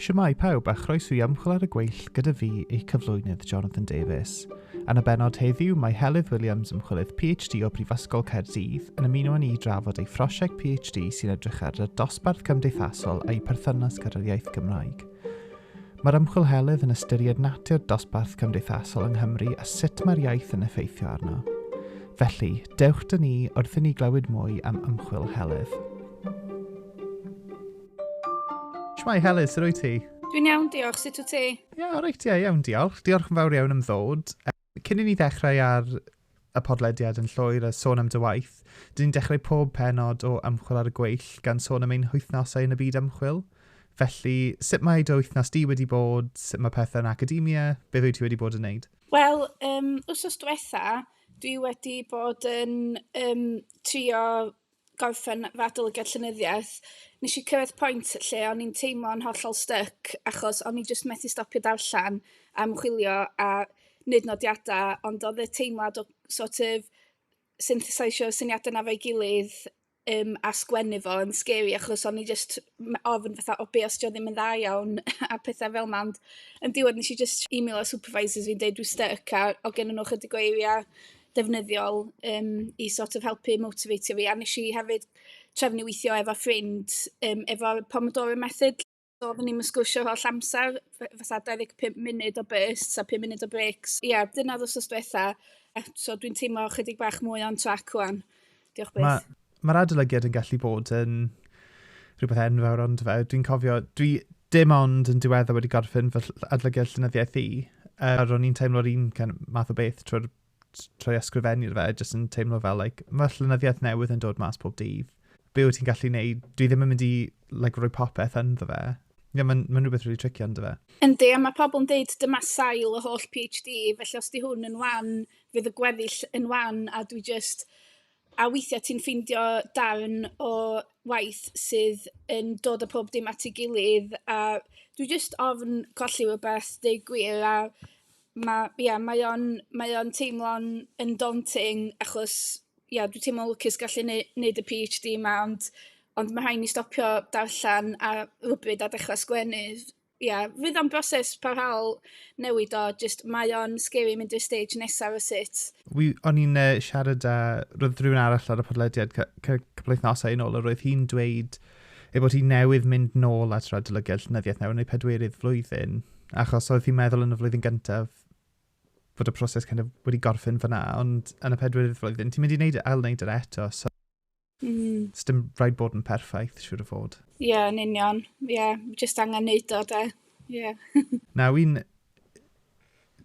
Siamai pawb a chroeso i ymchwil ar y gweill gyda fi, ei cyflwynydd Jonathan Davies. Yn y benod heddiw, mae Helydd Williams, ymchwilydd PhD o Brifysgol Caerdydd, yn ymuno â ni i drafod ei phrosiect PhD sy'n edrych ar y dosbarth cymdeithasol a'i perthynas gyda'r iaith Gymraeg. Mae'r ymchwilhelydd yn ystyried natur dosbarth cymdeithasol yng Nghymru a sut mae'r iaith yn effeithio arno. Felly, dewch 'da ni wrth i ni glywed mwy am ymchwil Helydd. Shwmae Helydd, sut wyt ti? Dwi'n iawn, diolch. Sut wyt ti? Ie, yeah, reit, ie, yeah, iawn, diolch. Diolch yn fawr iawn am ddod. Cyn i ni ddechrau ar y podlediad yn llwyr a sôn am dy waith, dyn ni'n dechrau pob penod o Ymchwil ar y Gweill gan sôn am ein hwythnosau yn y byd ymchwil. Felly, sut mae dy wythnos di wedi bod, sut mae pethau yn academia, beth wyt ti wedi bod yn wneud? Wel, um, wsos diwetha, dwi wedi bod yn um, trio gorffen fy adolygiad llenyddiaeth, nes i cyrraedd pwynt lle o'n i'n teimlo'n hollol styc achos o'n i jyst methu stopio darllen a ymchwilio a neud nodiadau ond oedd y teimlad o sort of synthesizeio syniadau 'na 'fo'i gilydd yym a sgwennu fo yn scary achos o'n i jyst m- ofn fatha o be' os 'di o ddim yn dda iawn a petha' fel 'na ond yn diwedd nes i jyst emailo supervisors fi yn deud dwi styc a o' gennyn nhw ychydig o eiria' defnyddiol yym i sort of helpu motiveitio fi a wnes i hefyd trefnu weithio efo ffrind yym efo'r Pomodoro Method. So oedden ni'm yn sgwrsio holl amser, f- fatha 25 munud o bursts a 5 munud o brêcs. Ia, dyna oedd wsos diwetha', a so dwi'n teimlo chydig bach mwy on track 'wan. Diolch byth. Mae'r ma, ma adolygiad yn gallu bod yn rhywbeth enfawr ond fe. Dwi'n cofio, dwi dim ond yn diwedda wedi gorffen fy adolygiad llynyddiaeth i, uh, a ro'n i'n teimlo'r un kind of, math o beth trwy'r trwy ysgrifennu'r fe, jyst yn teimlo fel, like, mae llynyddiaeth newydd yn dod mas pob dydd. Be wyt ti'n gallu neud? Dwi ddim yn mynd i like, rhoi popeth ynddo fe. Ie, yeah, mae'n ma rhywbeth rwy'n really tricio ynddo fe. Yndi, a mae pobl yn dweud dyma sail y holl PhD, felly os di hwn yn wan, fydd y gweddill yn wan a dwi jyst... a weithiau ti'n ffeindio darn o waith sydd yn dod â pob dim at ei gilydd a dwi jyst ofn colli rywbeth, deud gwir a ma' ia mae o'n mae o'n teimlo'n yn daunting achos ia dwi'n teimlo'n lwcus gallu neu- neud y PhD 'ma ond ond ma' rhaid i mi stopio darllen ar rywbryd a dechra' sgwennu. ia, fydd o'n broses parhaol newid o, jyst mae o'n scary mynd i'r stage nesaf o sut. Wi, o'n i'n uh, siarad â, roedd rhywun arall ar y podlediad cwpl wythnosau yn ôl, a roedd hi'n dweud ei bod hi newydd mynd nôl at radolygiad llynyddiaeth newydd neu pedwerydd flwyddyn, achos oedd hi'n meddwl yn y flwyddyn gyntaf bod y proses kind of wedi gorffen fyna, ond yn y pedwerydd flwyddyn, ti'n mynd i wneud, ail wneud yr eto, so Mm. It's dim rhaid bod yn perffaith, siwr o fod. Ie, yeah, yn union. Ie, yeah, just angen neud o, de. Ie. Yeah. Nawr, un...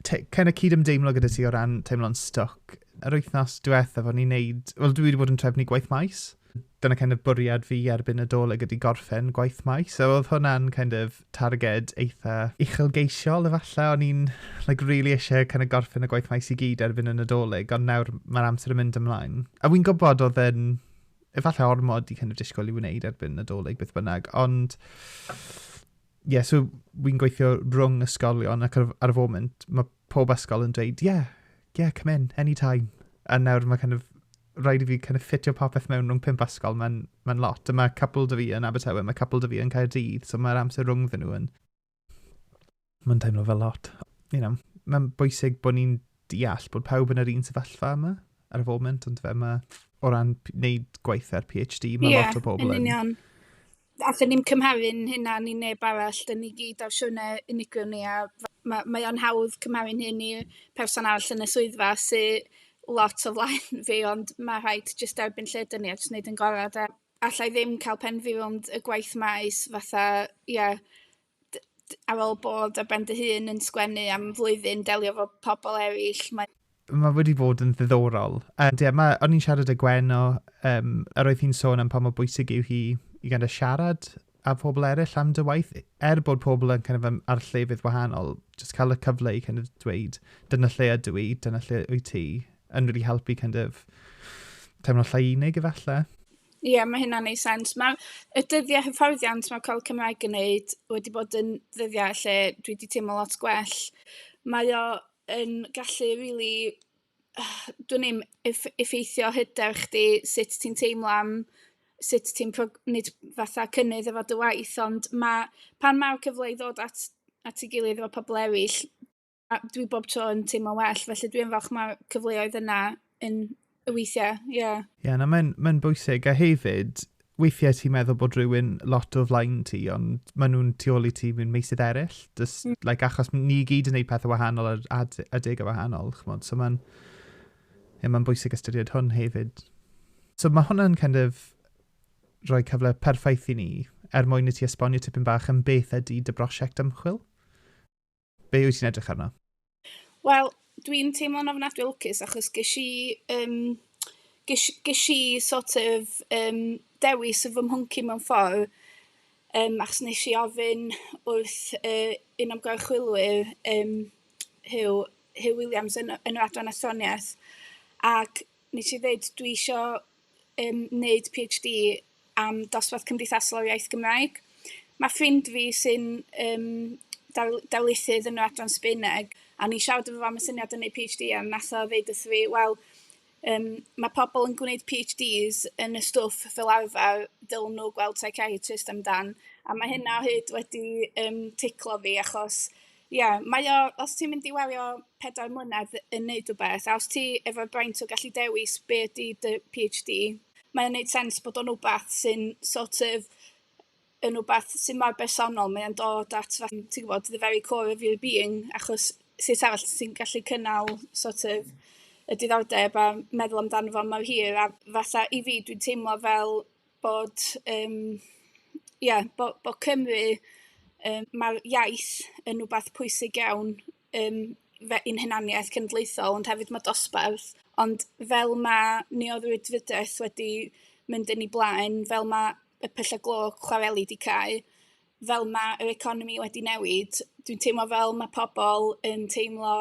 Cael y cyd-ymdeimlo gyda ti o ran teimlo'n stoc. Yr wythnos diwetha, fod ni'n neud... Wel, dwi wedi bod yn trefnu gwaith maes. Dyna kind of bwriad fi erbyn y doleg ydy gorffen gwaith maes. So, oedd hwnna'n kind of targed eitha uchelgeisiol efallai, o'n i'n like, really eisiau kind of gorffen y gwaith maes i gyd erbyn y Nadolig, ond nawr mae'r amser yn mynd ymlaen. A wy'n gwybod oedd yn efallai ormod i kind of disgwyl i wneud erbyn Nadolig beth bynnag, ond ie, yeah, so wy'n gweithio rhwng ysgolion ac ar, ar y foment, mae pob ysgol yn dweud, yeah, yeah, come in, any time. A nawr mae kind of, rhaid i fi kind of ffitio popeth mewn rhwng pump ysgol, mae'n ma lot. A mae cwpl dy fi yn Abertawe, mae cwpl dy fi yn Caerdydd, so mae'r amser rhwng ddyn nhw yn... Mae'n teimlo fel lot. You know, mae'n bwysig bod ni'n deall bod pawb yn yr un sefyllfa yma ar y foment, ond fe mae o ran wneud gweithiau'r PhD, mae yeah, lot o pobl yn... Ie, yn union. allen ni'm cymharu'n hunan i neb arall, 'da ni gyd ar siwrnai unigryw ni a ma' mae o'n hawdd cymharu'n hun i person arall yn y swyddfa sy lot o flaen fi ond ma' rhaid jyst derbyn lle 'da ni a jyst neud yn gora' 'de? Alla i ddim ca'l pen fi rownd y gwaith maes fatha ia ar ôl bod ar ben dy hun yn sgwennu am flwyddyn, delio efo pobl eraill, mae... Mae wedi bod yn ddiddorol. Ond ie, mae... o'n i'n siarad â Gwen o... yym, a roedd hi'n sôn am pa mor bwysig yw hi i kind of siarad â phobl eraill am dy waith, er bod pobl yn kind of yym ar llefydd wahanol, jyst cael y cyfle i kind of dweud, dyna lle ydw i, dyna lle wyt ti, yn rili helpu kind of teimlo llai unig efallai. Ie, yeah, mae hynna'n ei sens. Mae y dyddiau hyfforddiant mae Col Cymraeg yn wneud wedi bod yn ddyddiau lle dwi wedi teimlo lot gwell. Mae o yn gallu rili, really, dwi'n ddim, effeithio hyder chdi, sut ti'n teimlo am sut ti'n prog- nid fatha cynnydd efo dy waith, ond mae pan mae'r cyfle i ddod at at ei gilydd efo pobl eraill, a dwi bob tro yn teimlo'n well, felly dwi'n falch mae cyfleoedd yna yn y weithiau, ie. Yeah. Ie, yeah, na, mae'n ma bwysig. A hefyd, weithiau ti'n meddwl bod rhywun lot o flaen ti, ond maen nhw'n tu ôl i ti mewn meisydd eraill. Just, mm. like, achos ni gyd yn gwneud pethau wahanol a, a, a deg o wahanol, chymod. So mae'n yeah, ma bwysig ystyried hwn hefyd. So mae hwnna'n kind of rhoi cyfle perffaith i ni er mwyn i ti esbonio tipyn bach yn beth ydy dy brosiect ymchwil. Be wyt ti'n edrych arno? Wel, dwi'n teimlo'n ofnadwy lwcus achos ges i, um, ges, ges i sort of um, dewis y fy mhwnci mewn ffordd, um, achos nes i ofyn wrth uh, un o'n gorchwylwyr, um, Hugh, Hugh Williams yn, yn yr adran athroniaeth, ac nes i ddweud dwi eisiau yn wneud PhD am dosbarth cymdeithasol o'r iaith Gymraeg. Mae ffrind fi sy'n um, darlithydd yn yr adran Sbeineg, a ni siarad efo am y syniad yn ei PhD, a nath o ddeud wrth fi, wel, um, mae pobl yn gwneud PhDs yn y stwff fel arfer, dylen nhw gweld psychiatrist amdan, a mae hynna hyd wedi um, ticlo fi, achos Ie, mae o, os ti'n mynd i wario pedair mlynedd yn neud rhywbeth, a os ti efo braint o gallu dewis be ydy dy PhD, mae o'n neud sens bod o'n wbath sy'n sort of yn wbath sy'n mor bersonol, mae o'n dod at fatha, ti'n gwybod, the very core of your being, achos sut arall ti'n gallu cynnal sort of y diddordeb a meddwl amdano fo mor hir, a fatha i fi dwi'n teimlo fel bod yym ia bo' bo' Cymru yym ma'r iaith yn wbath pwysig iawn yym fe- i'n hunaniaeth cenedlaethol ond hefyd ma' dosbarth ond fel ma' neuroddwydfidaeth wedi mynd yn ei blaen fel ma' y pylle glo chwareli 'di cau fel ma' yr economi wedi newid dwi'n teimlo fel ma' pobol yn teimlo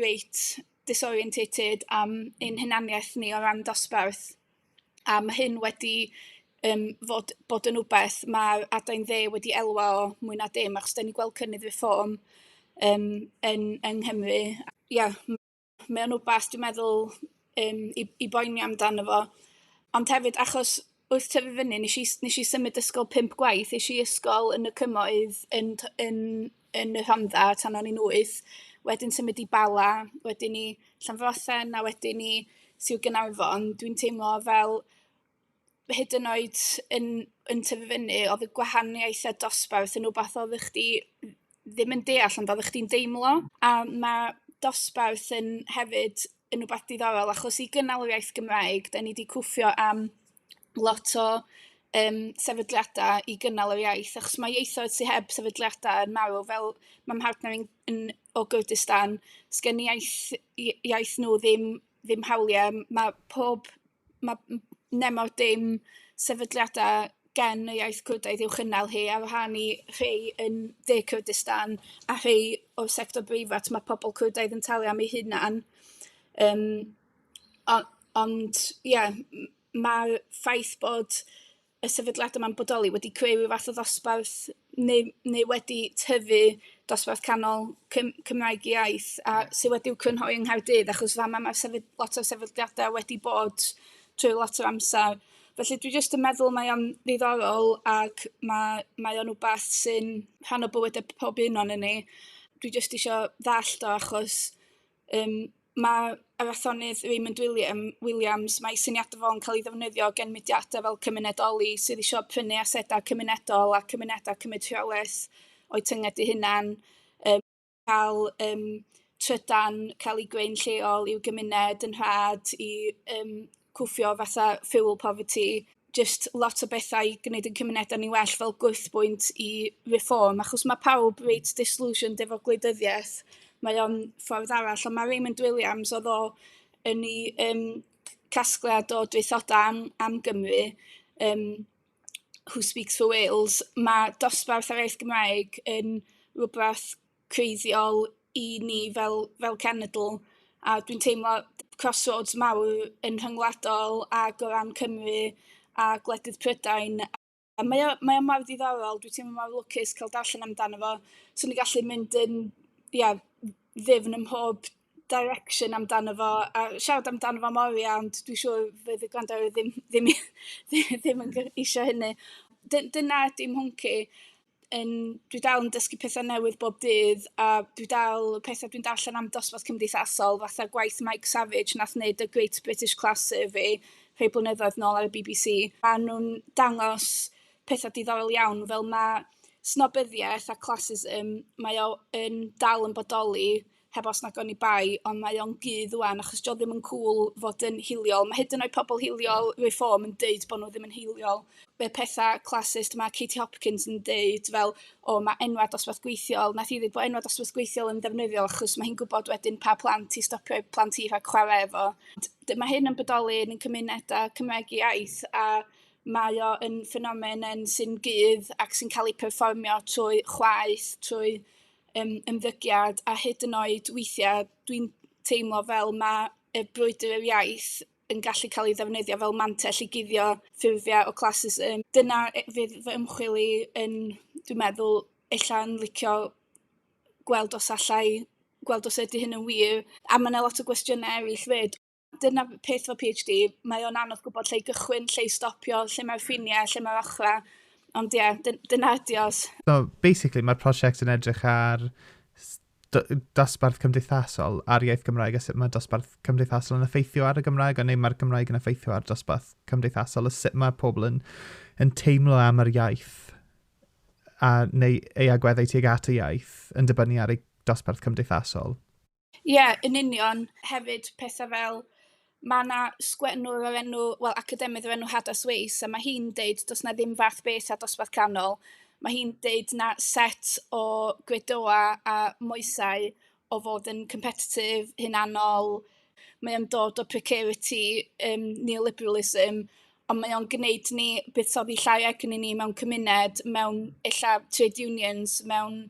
reit disorienteated am ein hunaniaeth ni o ran dosbarth. a ma' hyn wedi yym fod bod yn wbeth ma' adain dde wedi elwa o mwy na dim achos 'dan ni'n gweld cynnydd reform yym yn yng Nghymru ia mae o'n wbath dwi'n meddwl yym i i boeni amdano fo ond hefyd achos wrth tyfu fyny 'nes i 'nes i symud ysgol pump gwaith es i ysgol yn y Cymoedd yn t- yn yn y Rhondda tan o'n i'n wyth, wedyn symud i Bala, wedyn i Llanfrothen a wedyn i Sir Gaernarfon, dwi'n teimlo fel hyd yn oed yn yn tyfu fyny oedd y gwahaniaeth a dosbarth yn rwbath oeddech chdi ddim yn deall ond oeddech chdi'n deimlo a ma' dosbarth yn hefyd yn wbath diddorol achos i gynnal yr iaith Gymraeg 'dan ni 'di cwffio am lot o yym sefydliadau i gynnal yr iaith, achos mae ieithoedd sy heb sefydliadau yn marw, fel ma' mhartner i'n yn o Gurdistan, 'sgen iaith i- iaith nhw ddim ddim hawliau, ma' pob... ma' m- nemor dim sefydliadau gen y iaith Cwrdaidd i'w chynnal hi, ar wahân i rhai yn dde Cwrdistan a rhai o'r sector breifat, ma' pobl Cwrdaidd yn talu am eu hunain yym. O- ond ie, m- mae'r ffaith bod y sefydliadau 'ma'n bodoli wedi creu ryw fath o ddosbarth neu neu wedi tyfu dosbarth canol Cym- Cymraeg iaith a... sy wedi'w crynhoi yng Nghaerdydd, achos fama ma' sefy- lot o sefydliadau wedi bod trwy lot o amser. Felly, dwi jyst yn meddwl mae o'n ddiddorol ac ma' mae o'n wbath sy'n rhan o bywydau pob un o'non ni. Dwi jyst isio ddallt o achos Yym ma' yr athronnydd Raymond William- Williams, mae ei syniadau fo'n cael ei ddefnyddio gan mudiadau fel cymunedoli sydd isio prynu asedau cymunedol a cymunedau cymryd rheolaeth o'u tynged eu hunain, yym cael yym trydan cael eu gwei'n lleol i'w gymuned yn rhad i yym... cwffio fatha fuel poverty, jyst lot o bethau i gwneud ein cymunedau ni'n well fel gwyddbwynt i Reform, achos mae pawb reit disillusioned efo gwleidyddiaeth, mae o'n ffordd arall, ond mae Raymond Williams, oedd o yn ei um, casgliad o draethodau am, am Gymru, um, Who Speaks for Wales, mae dosbarth ar iaith Gymraeg yn rhywbeth creiddiol i ni fel fel cenedl, a dwi'n teimlo crossroads mawr yn rhyngwladol ac o ran Cymru a gwledydd Prydain, a mae o mae o mor ddiddorol, dwi'n teimlo mor lwcus cael darllen amdano fo, 'swn i'n gallu mynd yn ia ddyfn ym mhob direction amdano fo a siarad amdano fo am oriau, ond dwi'n siŵr fydd y gwrandawyr ddim ddim ddim yn isio hynny. Dy- dyna ydy mhwnc i. yn... dwi dal yn dysgu pethau newydd bob dydd, a dwi dal... y pethau dwi'n darllen am dosbarth cymdeithasol, fatha gwaith Mike Savage wnaeth wneud The Great British Class Survey rhai blynyddoedd nôl ar y BBC, maen nhw'n dangos pethau diddorol iawn, fel ma' snobyddiaeth a classism, mae o yn dal yn bodoli heb os nag oni bai ond mae o'n gudd ŵan achos 'di o ddim yn cŵl fod yn hiliol ma' hyd yn oed pobol hiliol Reform yn deud bo' n'w ddim yn hiliol y petha' classist ma' Katie Hopkins yn deud fel o ma' enwa' dosbarth gweithiol nath hi ddeud bo' enwa' dosbarth gweithiol yn ddefnyddiol achos ma' hi'n gwbod wedyn pa plant i stopio eu plant hi rhag chwara' efo ond ma' hyn yn bodoli yn ein cymuneda' Cymraeg iaith a mae o yn ffenomen sy'n gudd ac sy'n ca'l ei perfformio trwy chwaeth trwy yym ymddygiad a hyd yn oed weithiau dwi'n teimlo fel ma' y brwydr yr iaith yn gallu cael ei ddefnyddio fel mantell i guddio ffurfiau o classism. Dyna e- fydd fy ymchwil i yn dwi'n meddwl ella yn licio gweld os alla i gweld os ydy hyn yn wir. A ma' 'na lot o gwestiynau eraill 'fyd. dyna peth efo PhD, mae o'n anodd gwybod lle i gychwyn, lle i stopio, lle mae'r ffiniau, lle mae'r ochrau. Ond ie, yeah, dyna ydi os. So, basically, mae'r prosiect yn edrych ar dosbarth cymdeithasol a'r iaith Gymraeg a sut mae dosbarth cymdeithasol yn effeithio ar y Gymraeg a neu mae'r Gymraeg yn effeithio ar dosbarth cymdeithasol a sut mae pobl yn, yn teimlo am yr iaith a neu ei agweddau tuag at y iaith yn dibynnu ar ei dosbarth cymdeithasol. Ie, yn union. Hefyd, pethau fel, ma' 'na sgwennwr o'r enw... wel, academydd o'r enw Hadas Weis, a ma' hi'n deud, does 'na ddim fath beth â dosbarth canol. Ma' hi'n deud na set o gredoau a moesau o fod yn competitive, hunanol, mae o'n dod o precarity, yym neoliberalism, ond mae o'n gwneud ni buddsoddi llai agni ni mewn cymuned, mewn ella trade unions, mewn...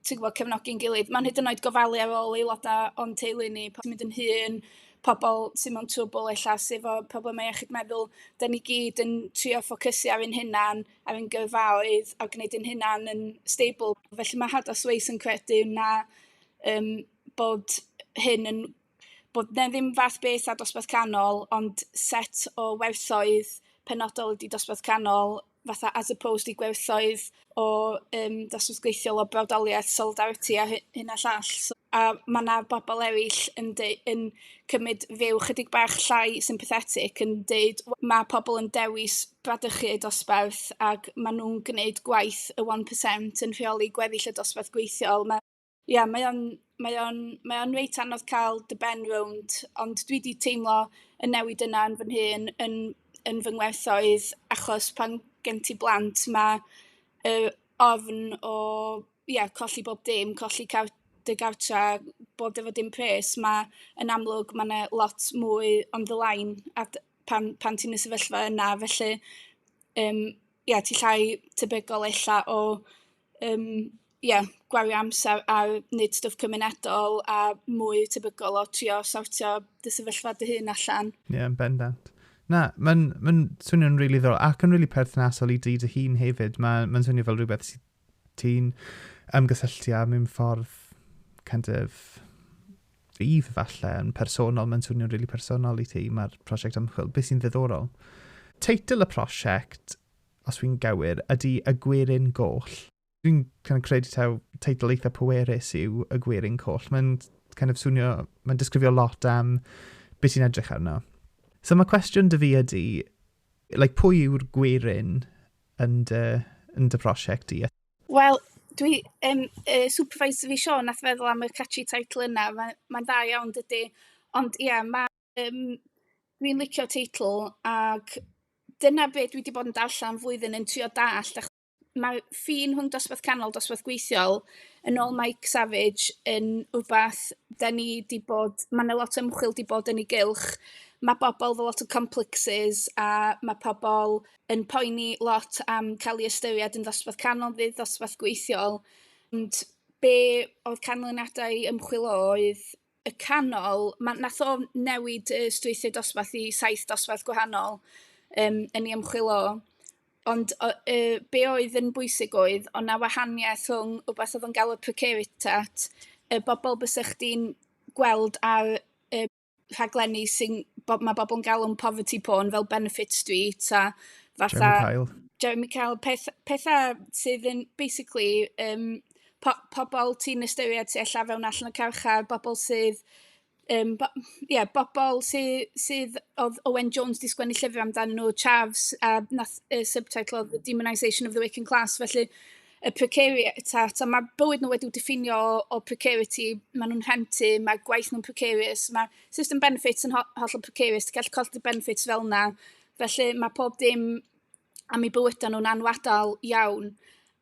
ti'n gwybod, cefnogi'n gilydd. Mae'n hyd yn oed gofalu ar ôl aelodau o'n teulu ni, pan mynd yn hŷn, pobl sy'n mewn trwbl ella, sydd efo problemau iechyd meddwl, da ni gyd yn trio ffocysu ar ein hunan, ar ein gyrfaoedd, a gwneud ein hunan yn stable. Felly mae Hadas Weiss yn credu na um, bod hyn yn bod 'na ddim fath beth â dosbarth canol, ond set o werthoedd penodol ydi dosbarth canol, fatha as opposed i gwerthoedd o yym dosbarth gweithiol o brawdoliaeth, solidarity a hy- hyn a llall. So... a ma' 'na bobl eraill yn deu- yn cymryd rhyw chydig bach llai sympathetic yn deud w- ma' pobl yn dewis bradychu eu dosbarth ac ma' nhw'n gwneud gwaith y one per cent yn rheoli gweddill y dosbarth gweithiol. Ma' Ia, mae o'n mae o'n mae o'n reit anodd cael dy ben rownd, ond dwi 'di teimlo y newid yna yn fy nhŷ'n yn yn fy ngwerthoedd achos pan gen ti blant ma' yr ofn o ia colli bob dim, colli car- dy gartre, bod efo dim pres, ma' yn amlwg ma' 'na lot mwy on the line a d- pan pan ti'n y sefyllfa yna felly yym ia ti llai tebygol ella o yym ia gwario amsar ar neud stwff cymunedol a mwy tebygol o trio sortio dy sefyllfa dy hun allan. Ie yn bendant. Na, mae'n ma'n swnio'n rili ddiddorol ac yn rili perthnasol i dy dy hun hefyd. Mae'n ma swnio fel rhywbeth sydd ti'n ymgysylltu â mewn ffordd kind of rhydd falle yn personol. Mae'n swnio'n rili personol i ti, mae'r prosiect ymchwil. Beth sy'n ddiddorol? Teitl y prosiect os fi'n gywir, ydy y gwerin goll. Dwi'n kind of credu taw teitl eitha pwerus yw y gwerin coll. Mae'n kind of swnio, mae'n disgrifio lot am beth ti'n edrych arno. So mae cwestiwn dy fi ydy, like, pwy yw'r gwerin yn dy, yn dy prosiect di? Wel, dwi, um, uh, supervisor fi Sean nath feddwl am y catchy title yna, mae'n mae dda iawn dydy, ond ie, yeah, mae Yym dwi'n licio teitl ac dyna be dwi 'di bod yn darllen flwyddyn yn trio dallt ach- mae ffin rhwng dosbarth canol dosbarth gweithiol yn ôl Mike Savage yn wbath 'da ni 'di bod ma' 'na lot o ymchwil 'di bod yn ei gylch ma' bobl efo lot o complexes a ma' pobl yn poeni lot am ca'l 'u ystyried yn ddosbarth canol neu ddosbarth gweithiol ond be' o'dd canlyniadau ymchwil o oedd y canol, ma' nath o newid y strwythur dosbarth i saith dosbarth gwahanol yym yn ei ymchwil o, ond o- yy be' oedd yn bwysig oedd o' 'na wahaniaeth rhwng wbath odd o'n galw'r precariat y bobol bysa chdi'n gweld ar y rhaglenni sy'n bo- ma' bobol yn galw'n poverty porn fel Benefit Street a fatha... Jeremy Kyle. Jeremy Kyle peth petha sydd yn basically yym po pobl ti'n ystyried sy ella fewn allan y carchar, bobl sydd um, bo, yeah, bobl sydd, sydd oedd Owen Jones di sgwennu llyfr amdano nhw, Chavs, a uh, nath uh, subtitle of The Demonisation of the Waking Class, felly y precariat, a, a mae bywyd nhw wedi'w diffinio o, o precarity, maen nhw'n rhentu, mae gwaith nhw'n precarious, mae system benefits yn ho hollol precarious, ti'n gallu colli benefits fel yna, felly mae pob dim am eu bywydau nhw'n anwadal iawn,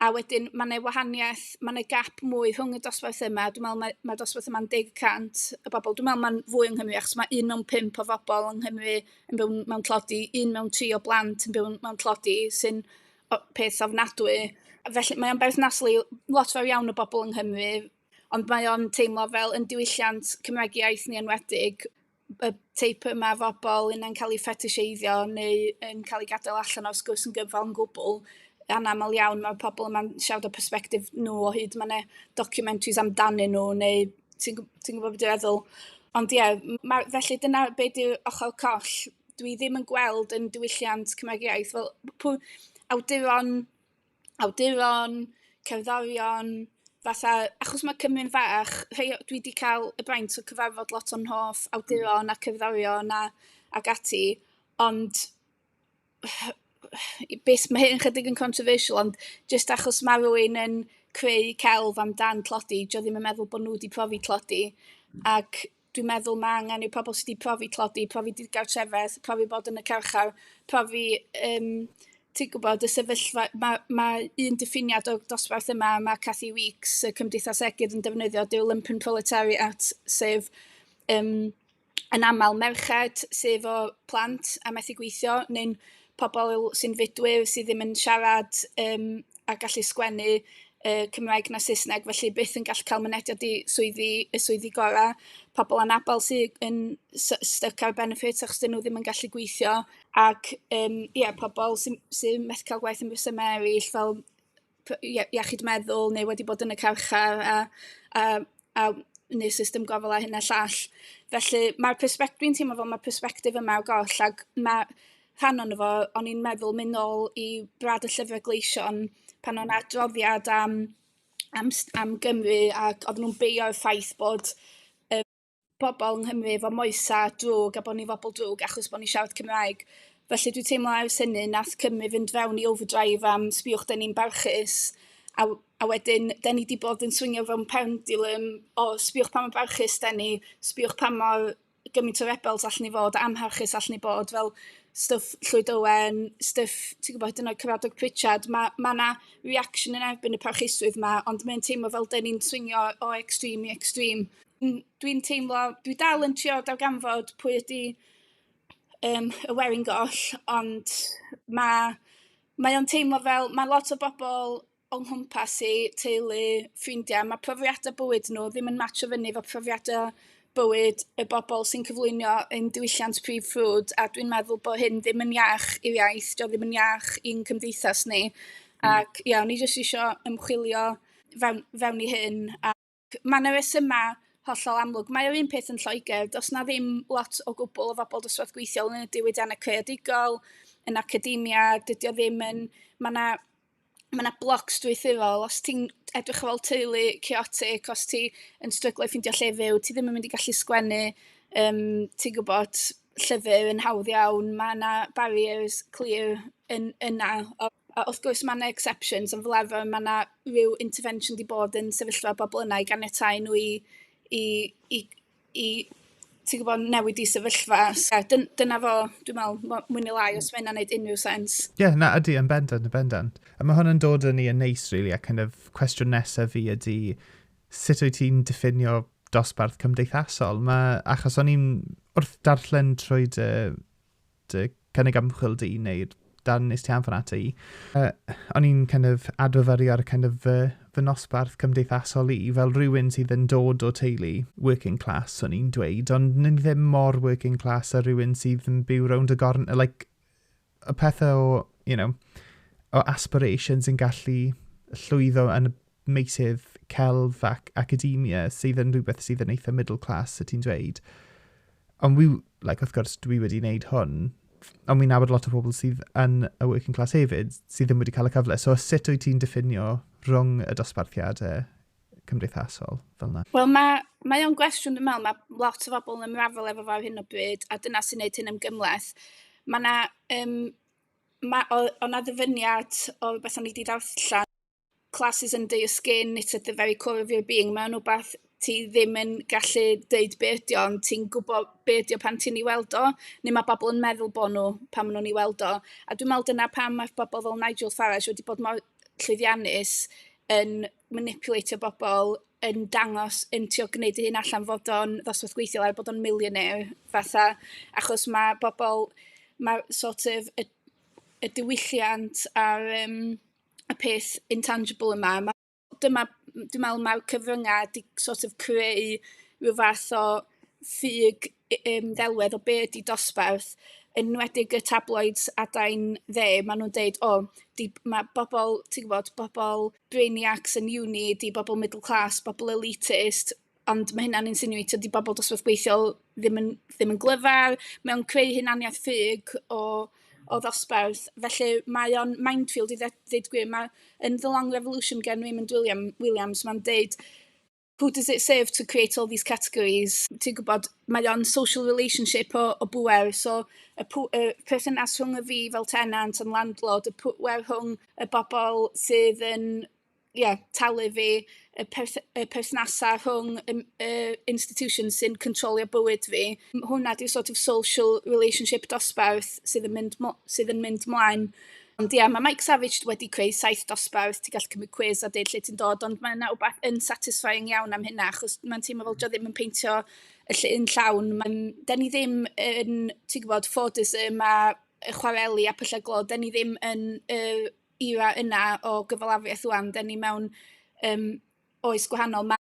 a wedyn mae 'na wahaniaeth, mae 'na gap mwy rhwng y dosbarth yma, dwi'n meddwl mae mae'r dosbarth yma'n deg y cant o bobl, dwi'n meddwl mae'n fwy yng Nghymru achos mae un mewn pump o bobl yng Nghymru yn byw mewn tlodi, un mewn tri o blant yn byw mewn tlodi sy'n o- peth ofnadwy. Felly mae o'n berthnasol i lot fawr iawn o bobl yng Nghymru, ond mae o'n teimlo fel yn diwylliant Cymraeg iaith ni enwedig, y teip yma o bobl un yn cael ei ffetiseiddio neu yn cael ei gadael allan o'r sgwrs yn gyfan yn gwbl, anaml iawn mae pobl yma'n siarad o perspectif nhw o hyd, mae yna documentaries amdanyn nhw neu ti'n ti gwybod beth dwi'n feddwl. Ond ie, ma, felly dyna be di ochr coll. Dwi ddim yn gweld yn diwylliant Cymraeg iaith fel pwy awduron awduron, cerddorion, fatha... Achos mae Cymru'n fach, rhei o- dwi 'di cael y fraint o cyfarfod lot o'n hoff awduron a cerddorion a ac ati, ond be s- mae hyn yn chydig yn controversial, ond jyst achos ma' rywun yn creu celf amdan tlodi, 'di o ddim yn meddwl bod nhw 'di profi tlodi, ac... dwi'n meddwl mae angen i'r pobl sydd wedi profi tlodi, profi digartrefedd, profi bod yn y carchar, profi um, ti'n gwybod, y sefyllfa, mae, ma un diffiniad o'r dosbarth yma, mae Cathy Weeks, y Cymdeithas Egydd, yn defnyddio dyw lumpen proletariat, sef um, yn aml merched, sef o plant a methu gweithio, neu'n pobl sy'n fudwyr sydd ddim yn siarad um, a gallu sgwennu uh, Cymraeg na Saesneg, felly byth yn gallu cael mynediad i swyddi, y swyddi gorau. Pobl anabl sydd yn stuck ar benefits achos dyn nhw ddim yn gallu gweithio. Ac um, yeah, pobl sy'n sy methu cael gwaith yn resymau eraill, fel iechyd meddwl neu wedi bod yn y carchar a a a yn y system gofal a hyn a llall. Felly mae'r persbect- dwi'n teimlo fel mae'r persbectif yma o goll ac mae rhan o'n fo, o'n i'n meddwl mynd nôl i brad y llyfrau gleision pan o'n adroddiad am am am Gymru ac oedden nhw'n beio'r ffaith bod y pobl yng Nghymru efo moesau drwg a bod ni'n bobl drwg achos bod ni'n siarad Cymraeg. Felly dwi'n teimlo ers hynny wnaeth Cymru fynd fewn i overdrive am sbiwch dyn ni'n barchus a, a wedyn dyn ni wedi bod yn swingio fewn pendulum o sbiwch pa mor barchus dyn ni, sbiwch pa mor gymaint o rebels allan ni fod, amharchus allan ni bod, fel stwff Llwyd Owen, stwff, ti'n gwybod, hyd yn oed Cyfadog Pritchard, mae ma yna reaction yn erbyn y parchusrwydd yma, ond mae'n teimlo fel dyn ni'n swingio o extreme i extreme. Mm, dwi'n teimlo, dwi dal yn trio darganfod pwy ydy um, y werin goll, ond mae, mae o'n teimlo fel, mae lot o bobl o'n nghwmpas i, teulu, ffrindiau, mae profiadau bywyd nhw ddim yn match o fyny fo profiadau bywyd y bobl sy'n cyflwyno yn diwylliant prif ffrwd a dwi'n meddwl bod hyn ddim yn iach i'w iaith, dio ddim yn iach i'n cymdeithas ni. Hmm. Ac ia, o'n i jyst eisiau ymchwilio fewn, fewn i hyn a Mae 'na resymau hollol amlwg. Mae o'r un peth yn Lloegr, does 'na ddim lot o gwbl o bobl dosbarth gweithiol yn y diwydiannau creadigol, yn academia, dydy o ddim yn... Mae 'na mae 'na bloc strwythurol, os ti'n edrych ar ôl teulu chaotic, os ti yn stryglo i ffeindio lle fyw, ti ddim yn mynd i gallu sgwennu, yym ti'n gwybod. llyfr yn hawdd iawn, mae 'na barriers clir yn yna, a a wrth gwrs mae 'na exceptions, ond fel arfer mae 'na ryw intervention 'di bod yn sefyllfa bobl yna i ganiatáu nhw i i i i ti'n gwybod, newid eu sefyllfa. So dyn- dyna fo dwi'n meddwl mo- mwy neu lai os mae hynna'n neud unrhyw sens. Ie, na, ydy, yn bendant, yn bendant. A mae hwn yn dod â ni yn neis, really, a kind of cwestiwn nesaf fi ydy, sut wyt ti'n diffinio dosbarth cymdeithasol? Mae, achos o'n i'n wrth darllen trwy dy, dy cynnig ymchwil di, neu dan nes ti anfon ata i, uh, o'n i'n kind of adfyfyrio ar kind of fy, fy nosbarth cymdeithasol i, fel rhywun sydd yn dod o teulu working class, o'n i'n dweud, ond ni ddim mor working class a rhywun sydd yn byw rownd y gorn, like, y pethau o, you know, o aspirations yn gallu llwyddo yn y meysydd celf ac academia sydd yn rhywbeth sydd yn eitha middle class, y ti'n dweud. Ond wi, like, wrth gwrs, dwi wedi wneud hwn, ond wi'n nabod lot o pobl sydd yn y working class hefyd, sydd ddim wedi cael y cyfle. So sut wyt ti'n diffinio rhwng y dosbarthiadau cymdeithasol fel yna? Wel mae mae o'n gwestiwn dwi'n meddwl, mae lot o bobl yn ymrafael efo fo ar hyn o bryd a dyna sy'n gwneud hyn yn gymleth. Mae yna, um, mae, o, o na ddyfyniad o beth o'n i wedi darllen, classes under your skin, it's at the very core of your being, mae'n rhywbeth ti ddim yn gallu dweud be ydi o, ond ti'n gwybod be ydi o pan ti'n ei weld o, neu mae bobl yn meddwl bod nhw pan maen nhw'n ei weld o. A dwi'n meddwl dyna pam mae bobl fel Nigel Farage wedi bod mor llwyddiannus yn manipulatio bobl yn dangos yn trio gwneud ei hun allan fod o'n ddosbarth gweithiol er bod o'n millionaire fatha achos mae bobl mae sort of y, y diwylliant a'r um, y peth intangible yma ma, dyma dwi'n meddwl mae'r cyfryngau wedi sort of creu rhyw fath o ffug um, ddelwedd o be ydi dosbarth yn nwedig y tabloids adain dde, maen nhw'n deud, o, oh, mae bobl, ti'n gwybod, bobl brainiacs yn uni, 'di bobl middle class, bobl elitist, ond ma' hynna'n insinueitio 'di bobl dosbarth gweithiol ddim yn ddim yn glyfar, mae o'n creu hunaniaeth ffug o o ddosbarth, felly mae o'n minefield i ddeud gwir, ma' yn The Long Revolution gan Raymond William- Williams ma'n deud who does it serve to create all these categories? Ti'n gwybod, mae o'n social relationship o, o bwer, so y, pw, y perthynas rhwng y fi fel tenant yn landlord, y pwer rhwng y bobl sydd yn yeah, talu fi, y, perth y perthnasau rhwng y, y institution sy'n controlio bywyd fi. Hwna di'r sort of social relationship dosbarth sydd yn mynd, sydd yn mynd mlaen Ond ia, mae Mike Savage wedi creu saith dosbarth, ti'n gallu cymryd cwiz a deud lle ti'n dod, ond mae yna wbeth yn satisfying iawn am hynna, achos mae'n teimlo fel dio ddim yn peintio y lle yn llawn. Mae'n, da ni ddim yn, ti'n gwybod, ffodus yma, y chwareli a pyllau glo, da ni ddim yn y era yna o gyfalafiaeth rwan, da ni mewn um, oes gwahanol. Mae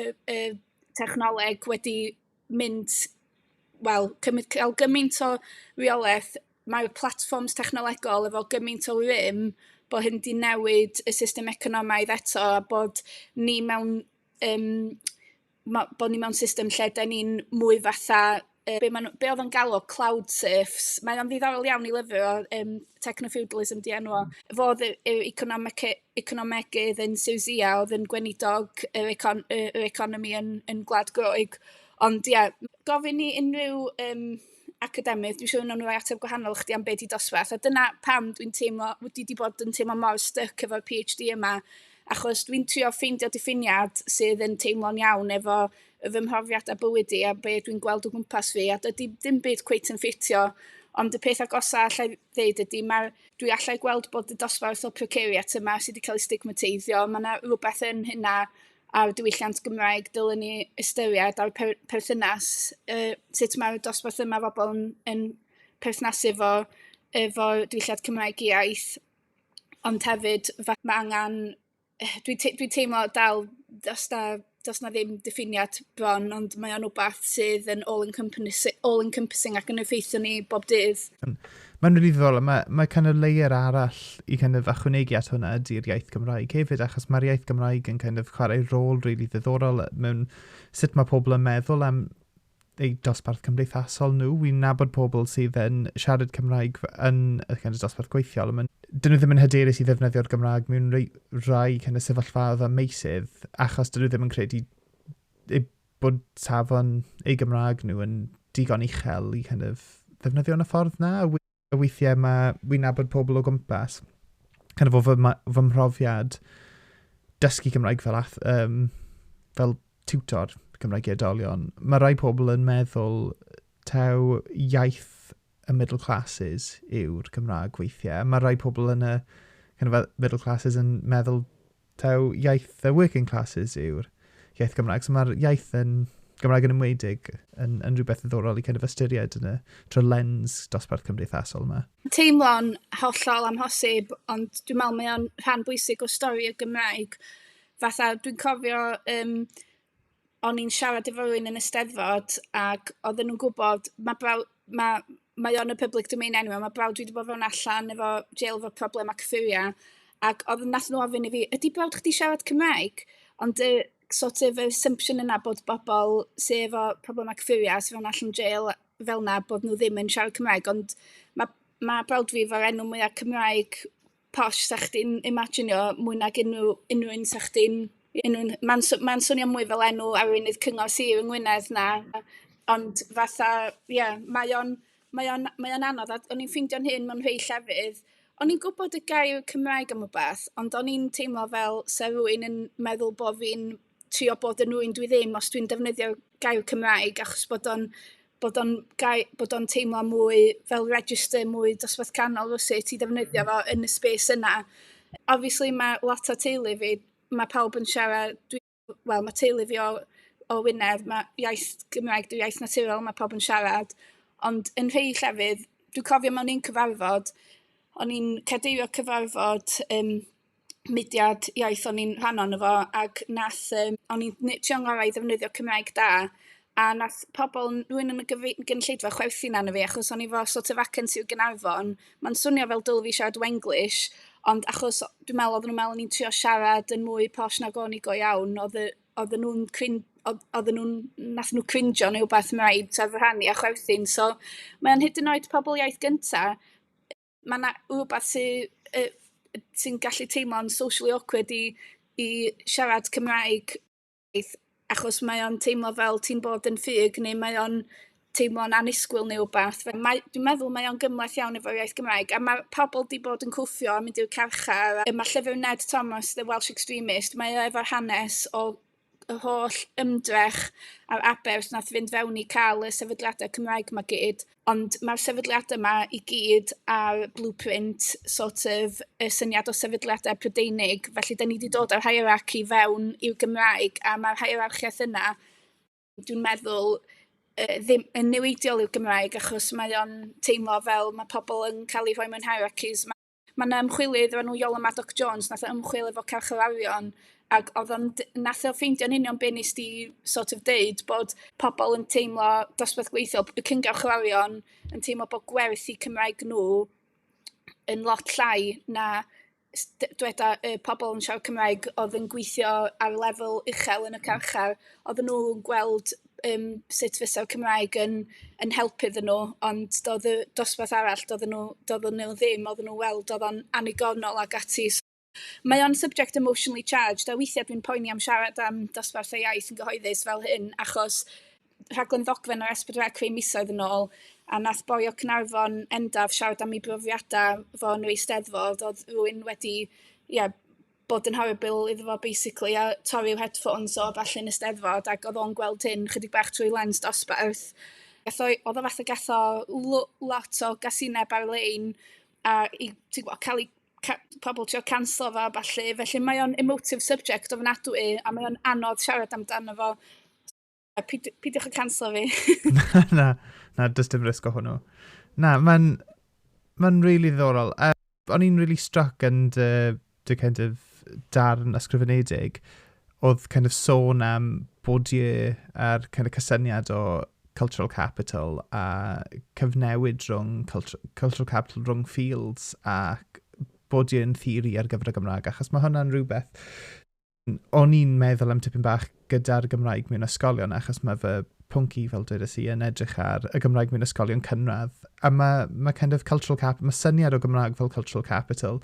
y y technoleg wedi mynd, wel, cymryd ca'l gymaint o reolaeth, mae'r platfforms technolegol efo gymaint o rym, bod hyn 'di newid y system economaidd eto, a bod ni mewn yym ma' bo' ni mewn system lle 'dan ni'n mwy fatha yy be' ma' n'w be' odd o'n galw cloud surfs mae o'n ddiddorol iawn i lyfio o yym techno feudalism 'di enw o. Fo o'dd y yw economic e- economegydd yn Siwsïa ia o'dd yn gweinidog yr econ- yy yr economi yn yn Gwlad Groeg ond ia gofyn i unrhyw yym academydd dwi siŵr nawn n'w roi ateb gwahanol i chdi am be' 'di dosbarth a dyna pam dwi'n teimlo w- dwi 'di bod yn teimlo mor styc efo'r pee haitch dee yma achos dwi'n trio ffeindio diffiniad sydd yn teimlo'n iawn efo fy mhrofiad a bywyd i a be dwi'n gweld o gwmpas fi a dydy dim byd cweit yn ffitio ond y peth agosa allai ddeud ydy mae dwi allai gweld bod y dosbarth o precariat yma sydd wedi cael ei stigmateiddio mae yna rhywbeth yn hynna a'r diwylliant Gymraeg dylen ni ystyried a'r per perthynas uh, sut mae'r dosbarth yma bobl yn, yn perthnasu efo efo diwylliant Cymraeg iaith ond hefyd mae angen dwi te- dwi teimlo dal does 'na does 'na ddim diffiniad bron ond mae o'n wbath sydd yn all encompassing all encompassing ac yn effeithio ni bob dydd. Hmm. Mae'n rili ddiddorol. Mae, mae kind of layer arall i kind of achwnegu at hwnna ydy'r iaith Gymraeg hefyd, achos mae'r iaith Gymraeg yn kind of chwarae rôl rili really ddiddorol mewn sut mae pobl yn meddwl am eu dosbarth cymdeithasol nhw. Wi'n nabod pobl sydd yn siarad Cymraeg yn y kind of dosbarth gweithiol, ond dyn nhw ddim yn hyderus i ddefnyddio'r Gymraeg mewn rhai, rhai kind of sefyllfaoedd a meysydd, achos dyn nhw ddim yn credu eu bod safon eu Gymraeg nhw yn digon uchel i kind of ddefnyddio yn y ffordd na. y weithiau mae wy'n nabod pobl o gwmpas, kind of o fy, fy mhrofiad dysgu Cymraeg fel, ath, um, fel tutor Cymraeg i edolion, mae rai pobl yn meddwl taw iaith y middle classes yw'r Cymraeg weithiau. Mae rai pobl yn y kind of, middle classes yn meddwl taw iaith y working classes yw'r iaith Gymraeg. So mae'r iaith yn Gymraeg yn ymwedig yn, yn rhywbeth ddiddorol i kind of ystyried yn y tro lens dosbarth cymdeithasol yma. Teimlo'n hollol amhosib, ond dwi'n meddwl mae o'n rhan bwysig o stori y Gymraeg. Fatha, dwi'n cofio um, o'n i'n siarad efo rywun yn y 'Steddfod ac oedden nhw'n gwybod, mae brawd, ma' mae o'n y public domain enw, mae brawd dwi wedi bod fewn allan efo jail efo problemau cyffuria, ac oedd nath nhw ofyn i fi, ydy brawd chdi siarad Cymraeg? Ond y sort of assumption yna bod bobl sydd efo problemau cyffuria sydd fewn allan jail fel yna, bod nhw ddim yn siarad Cymraeg, ond mae ma' brawd fi efo'r enw mwyaf Cymraeg posh 'sa chdi'n imaginio mwy nag unrhyw unrhyw un 'sa chdi'n un un ma'n sw- ma'n swnio mwy fel enw arweinydd cyngor sir yng Ngwynedd na ond fatha ie mae o'n mae o'n mae o'n anodd a o'n i'n ffeindio'n hun mewn rhei llefydd o'n i'n gwbod y gair Cymraeg am y peth ond o'n i'n teimlo fel 'sa rywun yn meddwl bo' fi'n trio bod yn rywun dwi ddim os dwi'n defnyddio gair Cymraeg achos bod o'n bod o'n gai- bod o'n teimlo mwy fel register mwy dosbarth canol rywsut i ddefnyddio fo yn y space yna. Obviously ma' lot o teulu fi ma' pawb yn siarad dwi wel ma' teulu fi o o Wynedd ma' iaith Gymraeg 'di iaith naturiol ma' pawb yn siarad ond yn rhei llefydd dwi cofio mewn un cyfarfod o'n i'n cadeirio cyfarfod yym mudiad iaith o'n i'n rhan o'no fo ac nath yym o'n i'n ne- trio 'ngorau i ddefnyddio Cymraeg da a nath pobol n- rywun yn y gyfri- gynulleidfa chwerthin arno fi achos o'n i 'fo sort of acen Sir Gaernarfon. Ma'n swnio fel dylwn fi siarad Wenglish ond achos o- dwi me'wl oddan nw'n me'wl o'n i'n trio siarad yn mwy posh nag o'n i go iawn odd y odden nw'n cwin- odd odden nw'n nath nw crinjo ne' wbath 'na i t'od fy rhan i a chwerthin so mae o'n hyd yn oed pobol iaith gynta' ma' 'na rywbeth sy yy sy'n gallu teimlo'n socially awkward i i siarad Cymraeg achos mae o'n teimlo fel ti'n bod yn ffug neu mae o'n teimlo'n annisgwyl ne' wbath fel mae dwi'n meddwl mae o'n gymhleth iawn efo'r iaith Gymraeg a ma' pobol 'di bod yn cwffio a mynd i'r carchar a yy ma' llyfyr Ned Thomas The Welsh Extremist mae o efo'r hanes o y holl ymdrech a'r aberth nath fynd fewn i cael y sefydliadau Cymraeg ma gyd, ond mae'r sefydliadau yma i gyd ar blueprint sort of y syniad o sefydliadau Prydeinig, felly da ni wedi dod â'r hierarchy fewn i'r Gymraeg a mae'r hierarchiaeth yna, dwi'n meddwl, uh, ddim yn niweidiol i'r Gymraeg achos mae o'n teimlo fel mae pobl yn cael eu rhoi mewn hierarchies Mae 'na ymchwilydd o'r enw Iola Maddock-Jones wnaeth ymchwil efo carcharorion ac oedd o'n... wnaeth o ffeindio'n union be wnest ti sort of deud, bod pobl yn teimlo dosbarth gweithiol, y cyngarchorion yn teimlo bod gwerth eu Cymraeg nhw yn lot llai na s- d- dyweda y pobl yn siarad Cymraeg oedd yn gweithio ar lefel uchel yn y carchar, oedden nhw'n gweld um, sut fysa Cymraeg yn, yn helpu iddyn nhw, ond doedd y dosbarth arall, doedd nhw, doedd nhw ddim, oedd nhw weld oedd o'n anigonol ac ati. Mae o'n subject emotionally charged, a weithiau dwi'n poeni am siarad am dosbarth y iaith yn gyhoeddus fel hyn, achos rhaglen ddogfen o'r S4C creu misoedd yn ôl, a nath boi o Cynarfon endaf siarad am ei brofiadau fo yn yr eisteddfod, oedd rhywun wedi, ie, yeah, bod yn Harry Bill iddo fo basically a torri'r headphones o falle yn y steddfod ac oedd o'n gweld hyn chydig bach trwy lens dosbarth. Gath oedd o fath o gath o lot o gasineb ar-lein a i, ti'n gwybod, cael ei ca pobl trio canslo fo a ballu, felly mae o'n emotive subject ofnadwy a mae o'n anodd siarad amdano fo. A pid, pidwch yn canslo fi. na, na, na, dys dim risg o hwnnw. Na, mae'n ma really ddiddorol. Uh, o'n i'n really struck yn dy, dy kind of darn ysgrifenedig oedd kind of sôn am Bourdieu a'r kind of cysyniad o cultural capital a cyfnewid rhwng culture, cultural capital rhwng fields a Bourdieu yn theori ar gyfer y Gymraeg achos mae hwnna'n rhywbeth o'n i'n meddwl am tipyn bach gyda'r Gymraeg mewn ysgolion, achos mae fy pwnc i, fel dwedes i, yn edrych ar y Gymraeg mewn ysgolion cynradd. A mae, mae kind of cultural cap, mae syniad o Gymraeg fel cultural capital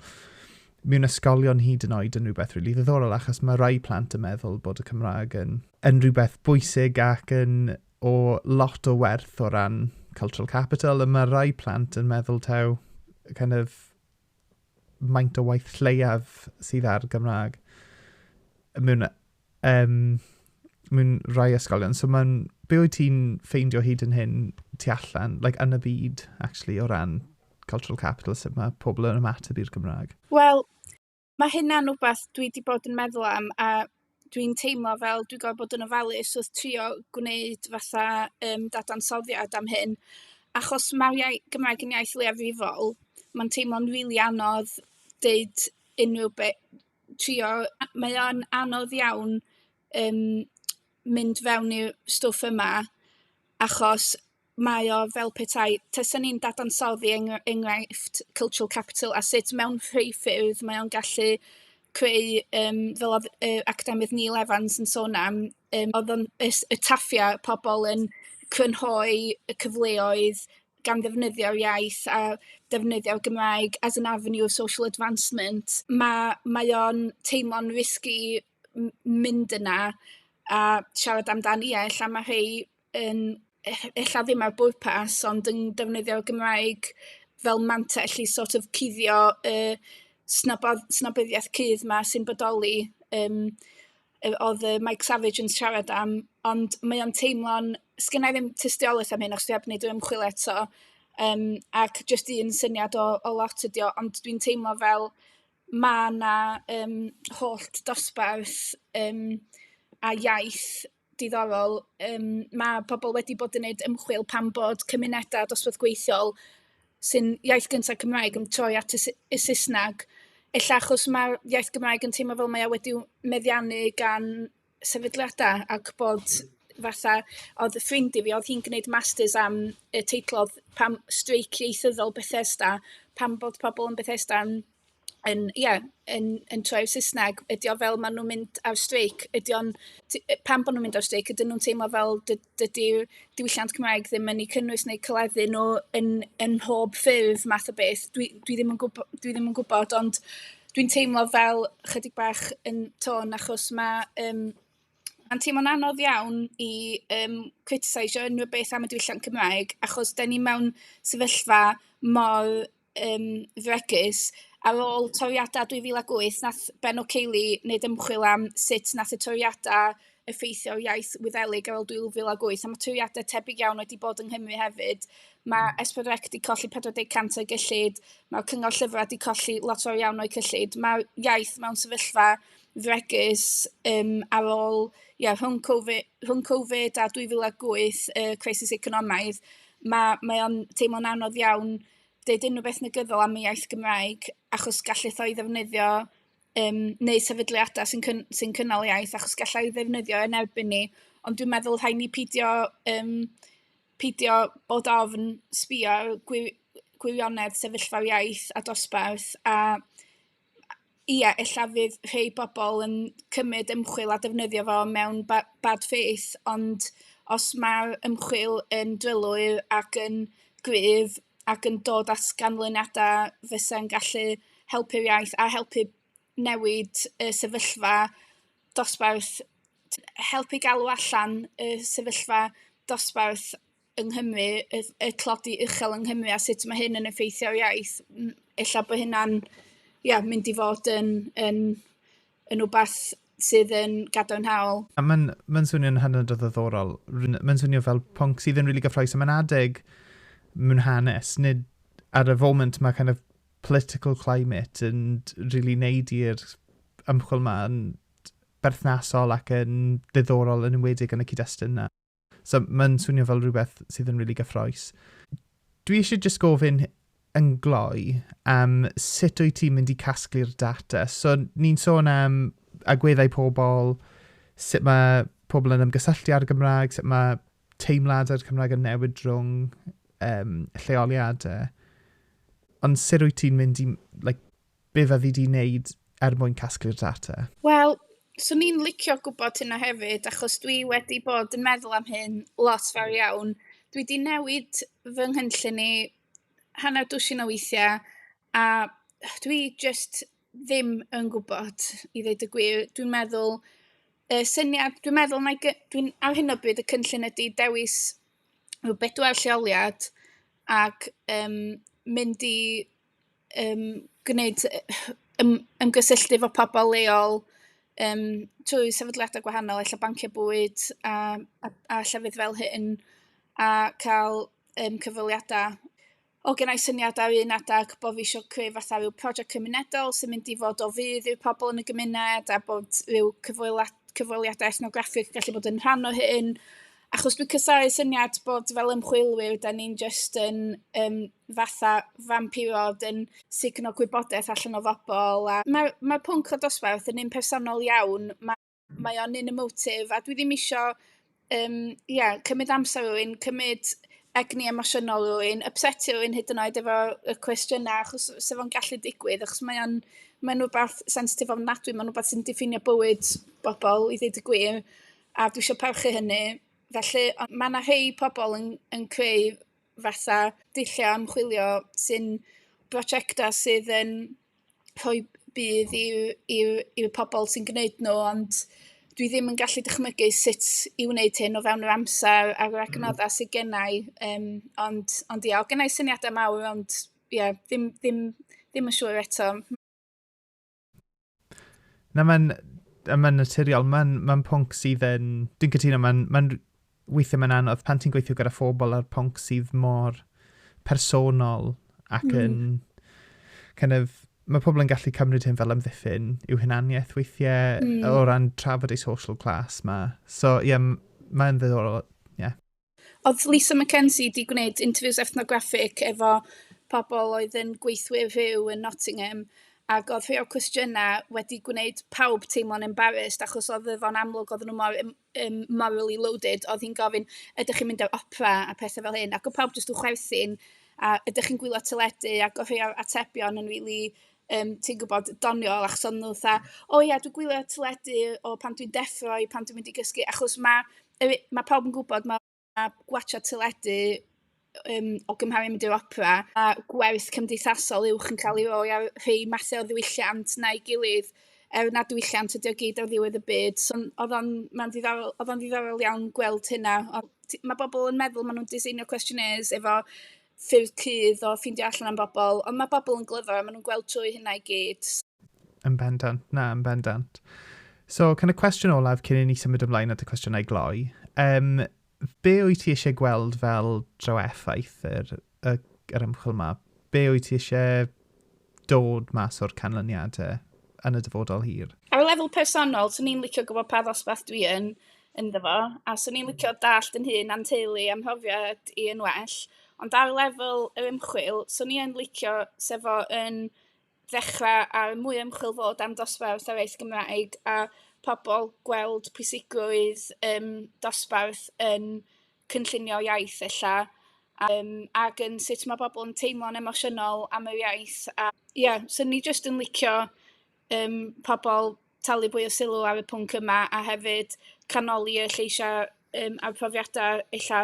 mewn ysgolion hyd yn oed yn rhywbeth rili really ddiddorol, achos mae rai plant yn meddwl bod y Cymraeg yn, yn rhywbeth bwysig ac yn o lot o werth o ran cultural capital, a mae rai plant yn meddwl taw kind of maint o waith lleiaf sydd ar Gymraeg mewn, um, mewn rhai ysgolion. So mae'n, be wyt ti'n ffeindio hyd yn hyn tu allan, like, yn y byd, actually, o ran cultural capital, sut mae pobl yn ymateb i'r Gymraeg? Wel, mae hynna'n rhywbeth dwi wedi bod yn meddwl am a dwi'n teimlo fel dwi gorfod bod yn ofalus wrth trio gwneud fatha yym dadansoddiad am hyn achos ma'r iai- Gymraeg yn iaith leiafrifol ma'n teimlo'n rili anodd deud unrhyw be- trio... mae o'n anodd iawn yym mynd fewn i'r stwff yma achos mae o fel petai tasa ni'n dadansoddi eng- enghraifft cultural capital a sut mewn rhei ffyrdd mae o'n gallu creu yym fel o'dd yy academydd Neil Evans yn sôn am yym o'dd o'n es- y taflia' pobol yn crynhoi y cyfleoedd gan ddefnyddio'r iaith a defnyddio'r Gymraeg as an avenue of social advancement ma' mae o'n teimlo'n risky m- mynd yna a siarad amdan ia ella ma' rhei yn e- ella ddim ar bwrpas ond yn defnyddio'r Gymraeg fel mantell i sort of cuddio y snob- snobyddiaeth cudd 'ma sy'n bodoli yym yy o'dd yy Mike Savage yn siarad am ond mae o'n teimlo'n... 'sgenna' i ddim tystiolaeth am hyn achos dwi 'eb 'neud yr ymchwil eto yym ac jyst un syniad o o lot ydi o ond dwi'n teimlo fel ma' 'na yym holl dosbarth yym a iaith diddorol, yym, ma' pobl wedi bod yn wneud ymchwil pam bod cymunedau dosbarth gweithiol sy'n iaith gynta Cymraeg yn troi at y S- y Saesneg, ella achos ma'r iaith Gymraeg yn teimlo fel mae o wedi meddiannu gan sefydliadau ac bod fatha... oedd ffrind i fi, oedd hi'n gwneud masters am y teitl oedd pam... streic ieithyddol Bethesda, pam bod pobl yn Bethesda yn... yn ia yn yn troi i'r Saesneg ydi o fel maen nhw'n mynd ar streic ydi o'n... t- yy pam bod nhw'n mynd ar streic ydyn nhw'n teimlo fel dy- dydi diwylliant Cymraeg ddim yn eu cynnwys neu cleddu nhw yn yn mhob ffurf math o beth dwi dwi ddim yn gwbo- dwi ddim yn gwybod ond dwi'n teimlo fel chydig bach yn tôn achos ma' yym ma'n teimlo'n anodd iawn i yym criticiseio unrhyw beth am y diwylliant Cymraeg achos 'dan ni mewn sefyllfa mor um, fregus, ar ôl toriadau 2008, nath Ben O'Keili wneud ymchwil am sut nath y toriadau effeithio'r iaith Wyddelig ar ôl 2008, a mae toriadau tebyg iawn wedi bod yng Nghymru hefyd. Mae S4C wedi colli 40% o'i gyllid, mae'r Cyngor Llyfrau wedi colli lot o'r iawn o'i cyllid. Mae'r iaith mewn sefyllfa fregus um, ar ôl, ie, yeah, rhwng, COVID, rhwng Covid a 2008, y uh, crisis economaidd, mae, mae o'n teimlo'n anodd iawn deud unrhyw beth negyddol am y iaith Gymraeg, achos gallith o'i ddefnyddio um, neu sefydliadau sy'n cyn, sy cynnal iaith, achos gallai ddefnyddio yn erbyn ni. Ond dwi'n meddwl rhaid ni pidio, um, pidio bod ofn sbio gwir, gwirionedd sefyllfa'r iaith a dosbarth a ia, ella fydd rhei pobl yn cymryd ymchwil a defnyddio fo mewn ba- bad faith, ond os mae'r ymchwil yn drylwyr ac yn gryf ac yn dod at ganlyniadau fysa'n gallu helpu'r iaith a helpu newid y sefyllfa dosbarth, helpu galw allan y sefyllfa dosbarth. yng Nghymru y y tlodi uchel yng Nghymru a sut mae hyn yn effeithio ar iaith m- ella bod hynna'n ia mynd i fod yn yn yn wbath sydd yn gadarnhaol. A mae'n mae'n swnio'n hynod o ddiddorol. Rwy'n... mae'n swnio fel pwnc sydd yn rili gyffrous a mae'n adeg mewn hanes nid ar y foment mae kind of political climate yn rili wneud i'r ymchwil 'ma yn berthnasol ac yn ddiddorol yn enwedig yn y cyd-destun 'na. So mae'n swnio fel rhywbeth sydd yn really gyffroes. Dwi eisiau just gofyn yn gloi am sut wyt ti'n mynd i casglu'r data. So ni'n sôn am agweddau pobl, sut mae pobl yn ymgysylltu ar y Gymraeg, sut mae teimlad ar Cymraeg yn newid drwy'n um, lleoliadau. Ond sut wyt ti'n mynd i like, Be fyddi di wneud er mwyn casglu'r data? Wel, swn i'n licio gwybod hynna hefyd, achos dwi wedi bod yn meddwl am hyn lot fawr iawn. Dwi wedi newid fy nghynllun i hanner dwsin o weithiau, a dwi jyst ddim yn gwybod i ddweud y gwir. Dwi'n meddwl, y syniad, dwi'n meddwl na i... dwi'n... ar hyn o bryd y cynllun ydy dewis rhyw bedwar lleoliad ac um, mynd i yym gwneud yym ymgysylltu efo pobl leol yym trwy sefydliadau gwahanol ella banciau bwyd a a a llefydd fel hyn a cael yym cyfweliadau o genna i syniad ar un adeg bo' fi isio creu fatha ryw project cymunedol sy'n mynd i fod o fudd i'r pobl yn y gymuned a bod ryw cyfwela- cyfweliadau ethnograffig yn gallu bod yn rhan o hyn achos dwi'n casau syniad bod fel ymchwilwyr, da ni'n just yn um, fatha fampirod yn signo gwybodaeth allan o fobl. A mae'r mae pwnc o dosbarth yn un personol iawn, mae, mae o'n un emotif, a dwi ddim eisiau um, yeah, cymryd amser rwy'n, cymryd egni emosiynol rwy'n, upsetio rwy'n hyd yn oed efo y cwestiynau, achos sef o'n gallu digwydd, achos mae o'n mae'n rhywbeth sensitif ofnadwy, mae'n rhywbeth sy'n diffinio bywyd bobl, i ddweud y gwir. a dwi isio parchu hynny, felly ond mae 'na rhai pobl yn yn creu fatha dulliau ymchwilio sy'n brosiectau sydd yn rhoi budd i'w i'w i'w pobl sy'n gwneud nhw, ond dwi ddim yn gallu dychmygu sut i wneud hyn o fewn yr amser a'r adnoddau sydd gynna' i, yym ond ond ia, oedd gynna' i syniadau mawr ond ia, ddim ddim ddim yn siŵr eto. Na, mae'n ma naturiol. Mae'n ma pwnc sydd yn... Dwi'n cytuno, mae'n ma weithiau mae'n anodd pan ti'n gweithio gyda phobl ar pwnc sydd mor personol ac mm. yn... Mm. Kind of, mae pobl yn gallu cymryd hyn fel amddiffyn i'w hunaniaeth weithiau mm. o ran trafod ei social class ma. So, ie, yeah, mae'n ddiddorol. Yeah. Oedd Lisa McKenzie 'di gwneud interviews ethnograffig efo pobl oedd yn gweithwyr rhyw yn Nottingham ac oedd rhai o'r cwestiynau wedi gwneud pawb teimlo'n embarrassed achos oedd e... fo'n amlwg oedden nhw mor yym morally loaded, oedd hi'n gofyn "ydych chi'n mynd i'r opera" a pethau fel hyn ac oedd pawb jyst yn chwerthin a "ydych chi'n gwylio teledu" ac oedd rhai o'r atebion yn rili yym ti'n gwybod doniol achos oedden nhw fatha "o ia dwi'n gwylio teledu o pan dwi'n deffro i pan dwi'n mynd i gysgu" achos ma' yy mae pawb yn gwybod ma' ma' gwatsiad teledu yym o gymharu mynd i'r opera a gwaith cymdeithasol uwch yn ca'l 'i roi ar rhei mathe o ddiwylliant na'i gilydd er nad diwylliant ydi o gyd ar ddiwedd y byd so odd o'n ma'n ddiddorol odd o'n ddiddorol iawn gweld hynna ond t- ma' bobol yn meddwl ma' nw'n diseinio cwestiynes efo ffyrdd cudd o ffindio allan am bobol ond ma' bobol yn glyfar a ma' nw'n gweld trwy hynna i gyd. Yn bendant, na, yn bendant. So, kind of cwestiwn olaf cyn i ni symud ymlaen at y cwestiynau gloi. Um, be wyt ti eisiau gweld fel draw effaith yr, yr, yr ymchwil yma? Be wyt ti eisiau dod mas o'r canlyniadau yn y dyfodol hir? Ar y lefel personol, swn i'n licio gwybod pa ddosbarth dwi yn ynddo fo, a swn i'n licio dallt yn hun a'n teulu a'n mhrofiad i yn well. Ond ar lefel yr ymchwil, swn i'n licio sef o yn ddechrau ar mwy o ymchwil fod am dosbarth yr iaith Gymraeg a pobl gweld pwysigrwydd um, dosbarth yn cynllunio iaith ella um, ac yn sut mae pobl yn teimlo'n emosiynol am yr iaith a ie, yeah, so ni jyst yn licio um, pobl talu mwy o sylw ar y pwnc yma, a hefyd canoli y lleisiau yym a'r profiadau ella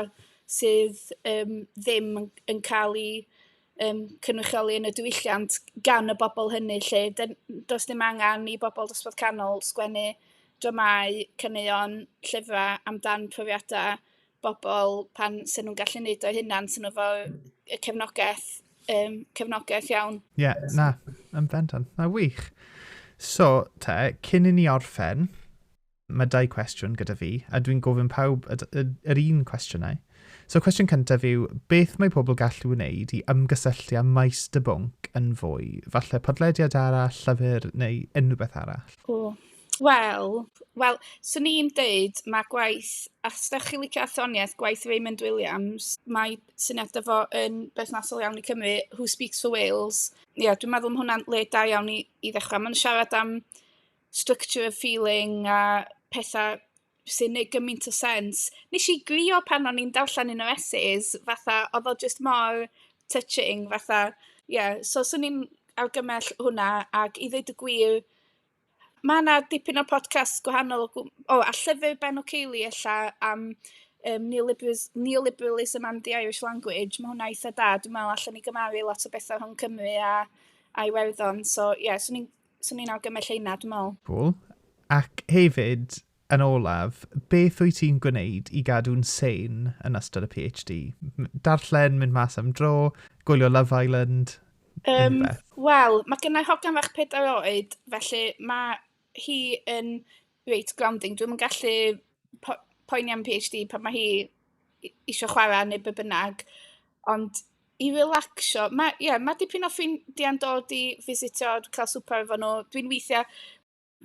sydd yym ddim yn cael eu yym cynrychioli yn y diwylliant gan y bobl hynny 'lly. D- does dim angen i bobl dosbarth canol sgwennu dramâu, caneuon, llyfrau amdan profiadau bobl pan 'sen nhw'n gallu neud o'u hunan, 'sen nhw 'fo y cefnogaeth yym cefnogaeth iawn. Ie, yeah, na, yn bendant. Na, wych. So, te, cyn i ni orffen, mae dau cwestiwn gyda fi, a dwi'n gofyn pawb yr un cwestiynau. So, cwestiwn cyntaf yw, beth mae pobl gallu wneud i ymgysylltu â maes dy bwnc yn fwy? Falle podlediad arall, llyfr neu unrhyw beth arall? O, Wel, wel, 'swn i'n deud ma' gwaith os dach chi'n licio athroniaeth, gwaith Raymond Williams, mae syniad 'da fo yn berthnasol iawn i Cymru, who speaks for Wales. Ia, dwi'n meddwl ma' hwnna'n le da iawn i i ddechrau. Ma'n siarad am structure of feeling a petha sy'n neud gymaint o sens. Nes i grio pan o'n i'n darllen un o'r essays, fatha oedd o jyst mor touching fatha, ie, so 'swn i'n argymell hwnna, ac i ddeud y gwir, Mae 'na dipyn o podcasts gwahanol o gw- o a llyfr Ben O'Keelie ella am yym neolibris- neoliberalism and the Irish language, ma' hwnna eitha' da, dwi me'wl allan ni gymaru lot o betha' rhwng Cymru a a Iwerddon, so ie 'swn i'n 'swn i'n awgrymu lle 'na dwi me'wl. Cŵl. Ac hefyd Yn olaf, beth wyt ti'n gwneud i gadw'n sane yn ystod y PhD? Darllen, mynd mas am dro, gwylio Love Island, unrhyw beth? Yym, wel, mae gynna i hogan fach pedair oed, felly mae hi yn reit grounding. Dwi'm yn gallu po- poeni am PhD pan mae hi i- isio chwarae neu be bynnag, ond i relaxio... Mae, ie, mae dipyn o ffrindiau'n dod i fisitio, cael swper efo nhw. Dwi'n weithiau...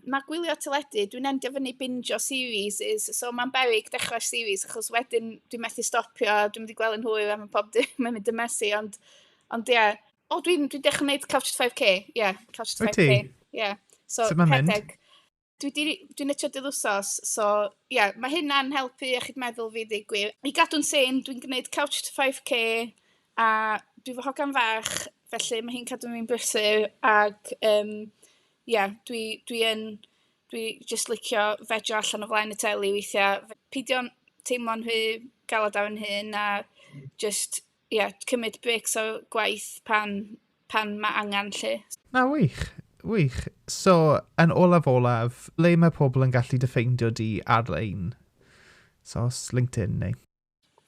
mae gwylio teledu, dwi'n endio fyny binjo series, is, so mae'n berig dechrau series, achos wedyn dwi'n methu stopio, dwi'n mynd i gweld yn hwyr, a mae pob dim yn mynd yn messy, ond, ond ie. Yeah. O, dwi'n dwi dechrau gwneud Couch to 5k, ie, yeah, Couch to 5k. Ie, yeah. so, so rhedeg. Dwi'n dwi, dwi netio dydd wsos, so ie, yeah, mae hynna'n helpu iechyd meddwl fi ddig gwir. I gadw'n sen, dwi'n gwneud Couch to 5k, a dwi fy hogan fach, felly mae hi'n cadw fi'n brysur, ac um, Ie, dwi dwi yn... dwi jyst licio vejo allan o flaen y teli weithiau. Peidio teimlo'n rhy galed ar fy nhŷn, a jyst, ie, cymryd brêcs o gwaith pan pan ma' angen 'lly. Na, wych, wych. So, yn olaf olaf, ble mae pobl yn gallu dy ffeindio di ar-lein? So, os LinkedIn neu...?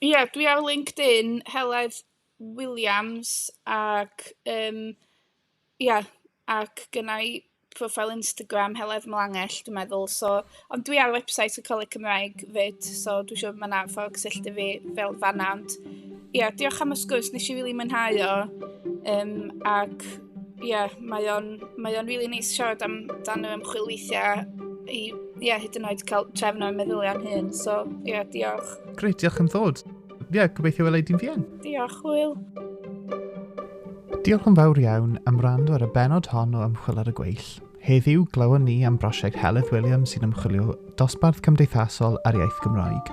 Ie, dwi ar LinkedIn, Heledd Williams, ac yym ia, ac gynna i proffil Instagram, Heledd Melangell dwi'n meddwl, so... ond dwi ar website y Coleg Cymraeg 'fyd, so dwi'n siŵr ma' 'na ffordd cysylltu fi fel fan'na, ond ia, diolch am y sgwrs, wnes i rili mwynhau o, yym ac... Ia, mae o'n mae o'n rili neis siarad amdan yr ymchwil weithiau i, ia, hyd yn oed cael trefn o'n meddyliau am hyn. So, ia, diolch. Grêt, diolch am ddod. Ia, gobeithio wela i di'n fian. Diolch, Hwyl. Diolch yn fawr iawn am wrando ar y benod hon o Ymchwil ar y Gweill. Heddiw, glywon ni am brosiect Heledd Williams sy'n ymchwilio dosbarth cymdeithasol a'r iaith Gymraeg.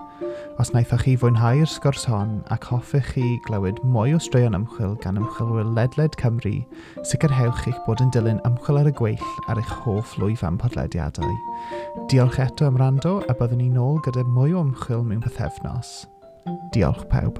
Os wnaethoch chi fwynhau'r sgwrs hon ac hoffech chi glywed mwy o straeon ymchwil gan ymchwilwyr ledled Cymru, sicrhewch eich bod yn dilyn Ymchwil ar y Gweill ar eich hoff lwyfan podlediadau. Diolch eto am rando a byddwn ni nôl gyda mwy o ymchwil mewn pythefnos. Diolch pawb.